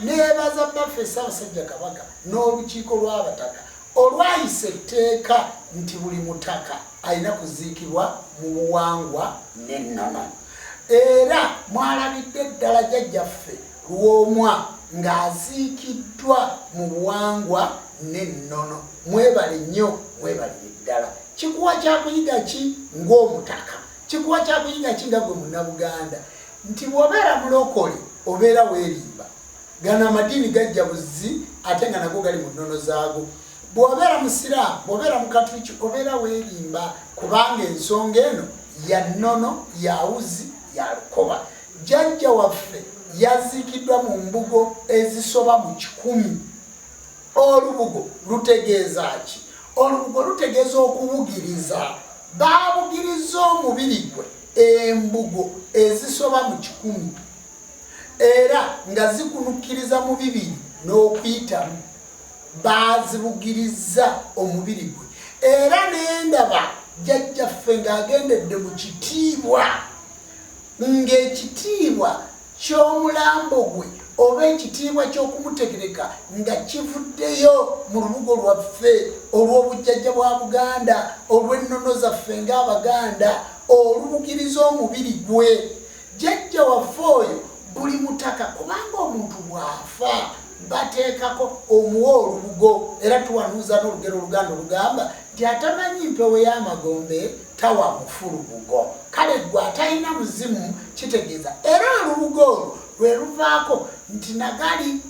Neebaza Bbaffe Ssaabasajja Kabaka n'Olukiiko lw'Abataka olwayisa etteeka nti buli Mutaka alina kuziikibwa mu buwangwa n'ennono. Era mwalabidde ddala Jjajjaffe Lwomwa ng'aziikiddwa mu buwangwa n'ennono. Mwebale nnyo, mwebalire ddala. Kikuwa kyakuyiga ki ng'Omutaka? Kikuwa kyakuyiga ki nga gwe Munnabuganda? nti bwobeera mulokole obeera werimba gano amadiini gajja buzzi ate nga nago gali mu nnono zaago bwobeera musiraamu bwobeera mukatuliki obeera werimba kubanga ensonga eno ya nnono yawuzi ya lukoba jajja waffe yaziikiddwa mu mbugo ezisoba mu kikumi olubugo lutegeeza ki olubugo lutegeeza okubugiriza baabugiriza omubiri gwe embugo ezisoba mu kikumi era nga zikunukkiriza mu bibiri n'okuyitamu baazibugirizza omubiri gwe era nendaba jjajjaffe ng'agendedde mu kitiibwa ng'ekitiibwa ky'omulambo gwe oba ekitiibwa ky'okumutegereka nga kivuddeyo mu lubugo lwaffe olw'obujjajja bwa Buganda, olw'ennono zaffe ng'Abaganda, olubugiriza omubiri gwe. Jjajja waffe oyo buli mutaka kubanga omuntu bw'afa bateekako omuwa olubugo era tuwanuuza n'olugero Oluganda olugamba nti atamanyi mpewo y'amagombe, tawa mufu lubugo kale gwe atalina muzimu kitegeeza era olubugo olwo lwe luvaako nti nagali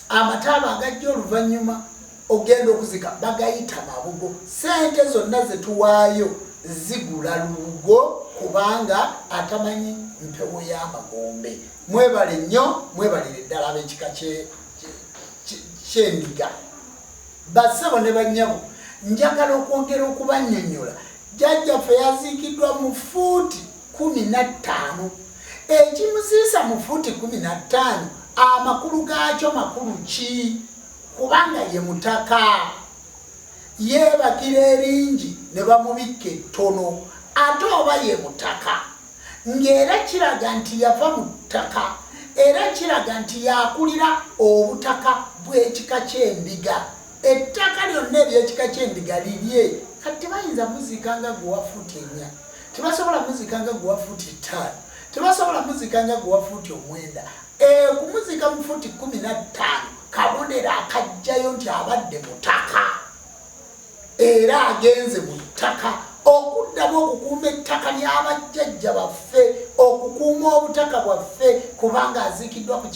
amataaba agajja oluvannyuma ogenda okuzika bagayita mabugo sente zonna zetuwaayo zigula lubugo kubanga atamanyi mpewo y'amagombe mwebale nnyo mwebalire ddala ab'ekika kyendiga Bassebo ne bannyabo, njagala okwongera okubannyonnyola. Jjajjaffe yaziikiddwa mu ffuuti kkumi na ttaano. Ekimuziisa mu ffuuti kkumi na ttaano amakulu gaakyo makulu ki? Kubanga ye mutaka. Yeebakira eringi ne bamubikka ettono. Ate oba ye mutaka. ng'era kiraga nti yava mu ttaka era kiraga nti y'akulira obutaka bw'ekika ky'endiga. Ettaka lyonna ery'ekika ky'endiga lirye. Kati tebayinza muziika nga gwe wa fuuti ennya, tebasobola muziika nga gwe wa fuuti ttaano, tebasobola muziika nga gwe wa fuuti omwenda. Okumuziika mu fuuti kkumi na ttaano kabonero akajjayo nti abadde mutaka. era agenze mu ttaka okuddamu okukuuma ettaka ly'abajjajja baffe okukuuma obutaka bwaffe kubanga aziikiddwa ku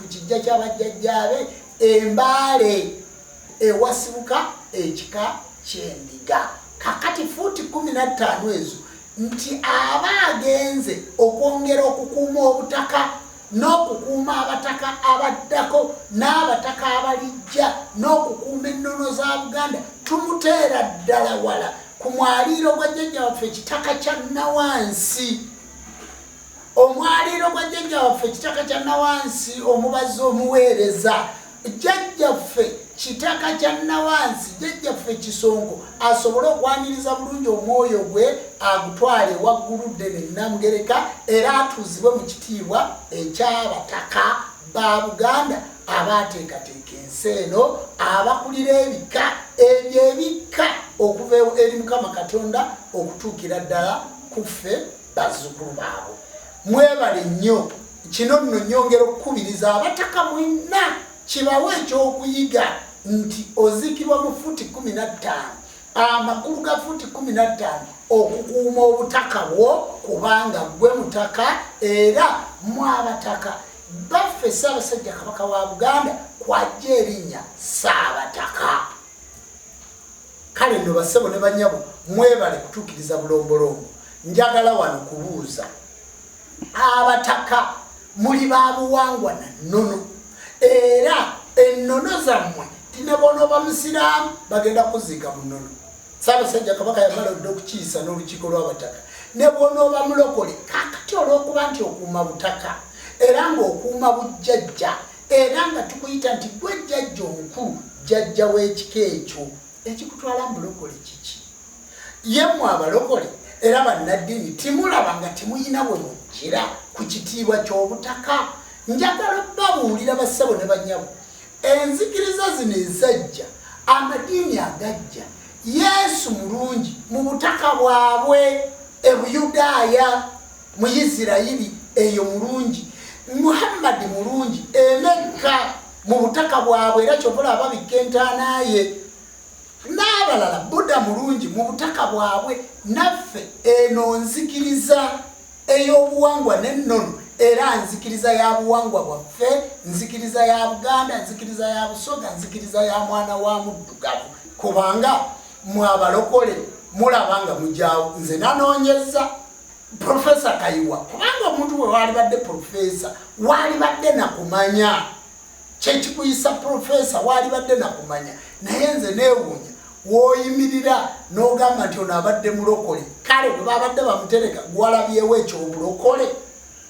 kijja ky'abajjajjaabe embaale ewasibuka ekika ky'endiga kakati fuuti kumi na ttaano ezo nti aba agenze okwongera okukuuma obutaka n'okukuuma abataka abaddako n'abataka abalijja n'okukuuma ennono za buganda tumuteera ddala wala ku mwaliiro gwa jjajja waffe ekitaka kya nawansi omwaliiro gwa jjajja waffe ekitaka kya nawansi omubazi omuweereza jjajjaffe kitaka kya nawansi jjajjaffe kisongo asobole okwaniriza bulungi omwoyo gwe agutwale waggulu ddene namugereka era atuuzibwe mu kitiibwa ekyabataka ba buganda abaateekateeka ensi eno abakulira ebika ebyo ebikka okuva eri mukama katonda okutuukira ddala kuffe bazzukulu baabo mwebale nnyo Kino nno nnyongera okukubiriza abataka mwenna kibawe ekyokuyiga nti oziikibwa mu fuuti kumi na ttaano amakulu ga fuuti kumi na ttaano okukuuma obutaka bwo kubanga gwe mutaka era mwabataka baffe ssaabasajja kabaka wa buganda kwajja erinnya ssaabataka kale nno bassebo ne banyabo mwebale kutuukiriza bulombolombo njagala wano kubuuza abataka muli ba buwangwa na nnono era ennono zammwe tinebonooba musiraamu bagenda kuziika mu nnono saabasajja kabaka yamala odde okukiisa n'olukiiko lw'abataka ne bwonooba mulokole kakati olw'okuba nti okuuma butaka era ng'okuuma bujjajja era nga tukuyita nti gwe jjajja omukulu jjajja w'ekika ekyo ekikutwala mu bulokole kiki Yemwe abalokole era bannaddini timulaba nga temuyina bwe mujjira ku kitiibwa ky'obutaka njagala babuulira bassebo ne banyabo enzikiriza zino ezajja amadiini agajja yesu mulungi mu butaka bwabwe e buyudaaya mu isirayiri eyo mulungi muhammadi mulungi emekka mu butaka bwabwe era kyovula ababikka entaanaye n'abalala buda mulungi mu butaka bwabwe naffe eno nzikiriza ey'obuwangwa n'ennono era nzikiriza ya buwangwa bwaffe nzikiriza ya buganda nzikiriza ya busoga nzikiriza ya mwana wa muddugavu kubanga mwabalokole mulaba nga mujawo nze nanoonyeza profesa kayiwa kubanga omuntu we waalibadde profesa waalibadde nakumanya kyekikuyisa profesa waalibadde nakumanya naye nze newuunya woyimirira nogamba nti ono abadde mulokole kale webabadde bamutereka gwalabyewo ekyobulokole